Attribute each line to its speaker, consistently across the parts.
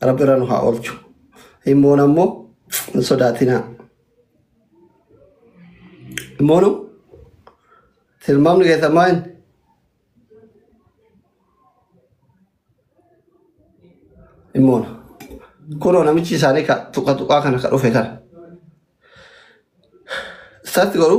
Speaker 1: Rabbi irra nu haa oolchu. Hin boona immoo hin sodaatinaa. Hin boonu tilmaamni keessan maal inni? Hin boona. Kunoo namichi isaanii ka tuqa tuqaa kana ka dhufe kana. Isaatti godhu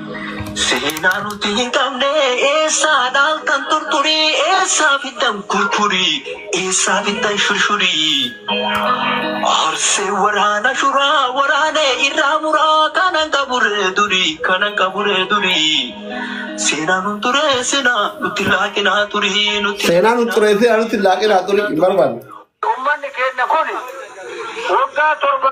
Speaker 2: Seenaa nuti hin qabne eessaa dhaaltan turturii eessaa fiddan kurkurii eessaa fiddan shurshurii Arsee waraana shuraa waraanee irraa muraa kanan qaburee durii kanan qaburee durii Seenaa nun turee sinaa nutti laaqinaa turii nutti Seenaa nun turee sinaa nutti
Speaker 1: laaqinaa turii hin barbaanne. Ummanni keenya
Speaker 2: kun waggaa torba.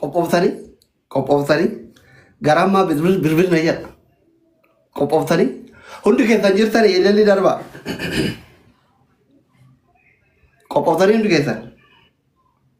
Speaker 1: Qophooftanii qophooftanii garaa ammaa bilbil na jedha. Qophooftanii hundi keessan jirtan eelalli darbaa. Qophooftanii hundi keessan.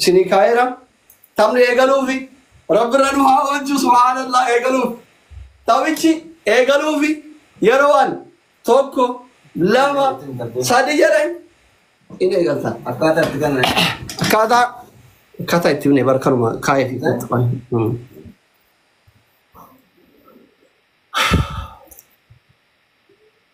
Speaker 1: Isinii kaa'eera taphni eegaluufi rabbi irra nu haa oolchu subhaanallah eegaluuf taphichi eegaluufi yeroo an tokko lama sadi jedhe in eegalta akkaataa itti ganna akkaataa akkaataa itti himne bar kanuma kaa'ee fi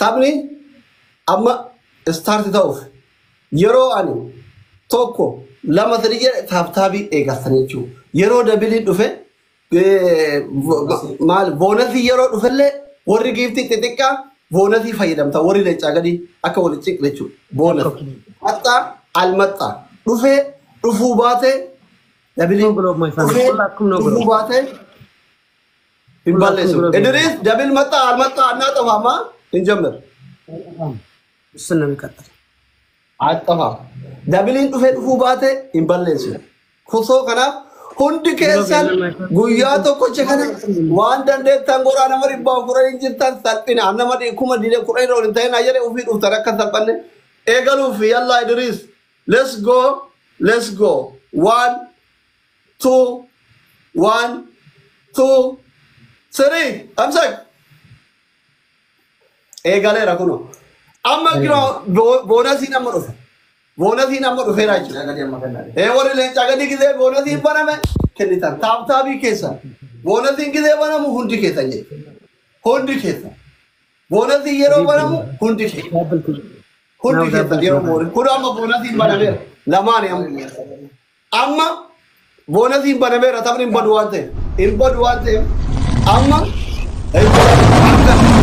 Speaker 1: Taphni amma start ta'uuf yeroo ani tokko lama sadii jedhe taaptaabii eegartanii jechuudha. Yeroo dabiliin dhufe eh, vo- ma- maal boonasii yeroo dhufellee warri giiftii xixiqqaa boonasii fayyadamta warri leencaa gadii akka wal ciqne jechuudha. Boonas maxxaa almaxxaa dhufee dhufuu baatee dabiliin Akkuma biloog my family. dhufee Akkuma biloog. dhufuu baatee hin balleessu. Idris dabil maxxaa al maxxaa annaa xafaama hin jammir. Bismillah
Speaker 3: hin kadhata. Axxafa.
Speaker 1: Dabiliin dhufee dhufuu baate hin balleessu. Kusoo kanaaf hundi keessan guyyaa tokkocha kana waan dandeettan godhaa nama dhibbaa furan hin jirtan salphina. An Nama dhi- kuma diidee kudha irra ol hin ta'in ayyale ofii dhuftan akka hin salphanne. Eegaluuf yallaa Idris. Let's go. Let's go. One. two, one, two, three. Amsak. Eegaleera kunoo. Amma kira boonasiin amma dhufe. Boonasiin amma dhufeera jechuudha. Ee warri leencaa gadi gisee boonasiin baname kennitan. Taaptaabii keessan. Boonasiin gisee banamu hundi keessan jechuudha. Hundi keessan. Boonasiin yeroo banamu hundi keessan. Hundi keessan yeroo boonasiin. Kun amma boonasiin banameera. Lamaani amma. Amma boonasiin banameera taphni hin badu waan ta'eef. Hin badu waan ta'eef amma argitanii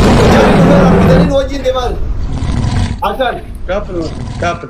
Speaker 1: nu wajjin deemaa jiru. Akkaan. Kaapil kaapil.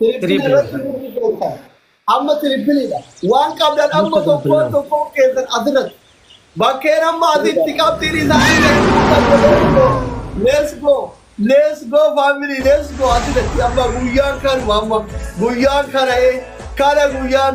Speaker 1: Tirippil Triple. irratti murni beektan. Amma tirippiliidha. Waan qabdan amma Murta tokkoon bilbilaa. tokkoon keessan asirratti. Bakkeen amma asitti qabxiin isaanii kan Let's go. Let's go family. Let's go. Asirratti amma guyyaan kanuma amma. Guyyaan kana ee. Kana guyyaan.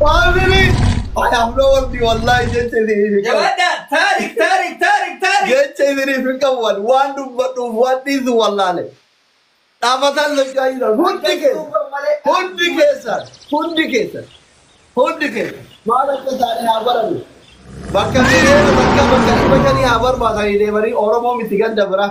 Speaker 1: Maamili! Anaaf na wardi wallaahi jecha isiniif hin qabu. Jabaadhaa! Taarik! Taarik! Taarik! Taarik! Jecha isiniif hin qabu ani waan dubbadhuuf waan dhiisu wallaale. Dhaabataan socho'aa jiran hundi keessan hundi keessan hundi keessan hundi keessan maal akka isaanii haa baranu. Bakka miiliyoona bakka bakka dhibba shanii haa barbaadanii deemanii Oromoo miti ganda biraa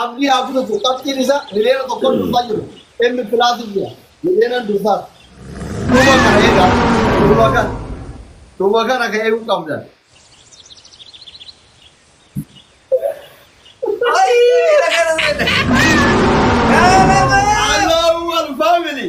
Speaker 1: Abdii haa kutatu qabxiin isaa miliyoona tokkoon dursaa jiru M plus jira miliyoonan dursaas dhuma kana egaa dhuma kana dhuma kana ka eeguu qabdan. Ayii! Allahu Akbar family.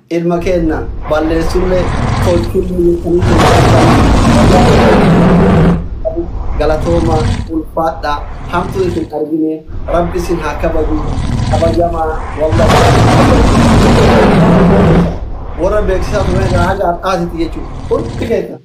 Speaker 1: Ilma keenna balleessulle tolchulle jettanii tolchattan. Galatoomaa, ulfaadhaa, hamtuu isin argine, Rabbi isin haa kabaju, kabajamaa, wallahi. Warra beeksisaa turre irraa haga har'aatitti jechuudha. Hundi keessan.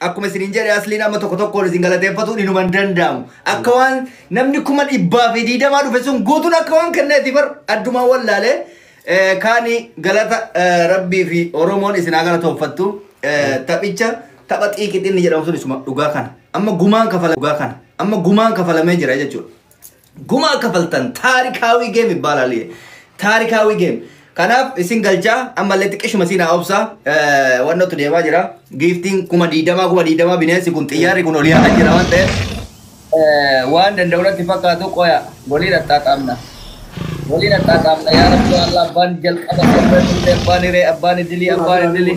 Speaker 4: Akkuma isiniin jedhe asliin amma tokko tokkoon isin galateeffatuun inuma hin danda'amu. Akka waan namni kuma dhibbaa fi diidamaa dhufe sun guutuun akka waan kenneeti bar addumaan wallaalee eh, kaani galata eh, rabbii fi oromoon isin haa galatooffattu Eh, taphicha tapha xiiqixinni jedhamu sun isuma dhugaa kana amma gumaan kafala dhugaa kana amma gumaan kafalamee jira jechuudha. Gumaa kafaltan taarikaawii geem ibbaalaal yee. Taarikaawii geem. Kanaaf isin galchaa ammallee xiqqishuma siinaa obsa wannootu deemaa jira. Giiftiin kuma diidamaa kuma diidamaa bineensi kun xiyyaarri kun ol yaa'aa jira waan ta'eef eh, waan danda'u natti fakkaatu qoya waliin axxaaxaamna. Waliin axxaaxaamna yaa rabbi Allah abbaan jalqaba abbaan illee abbaan hiree abbaan idilii abbaan idilii.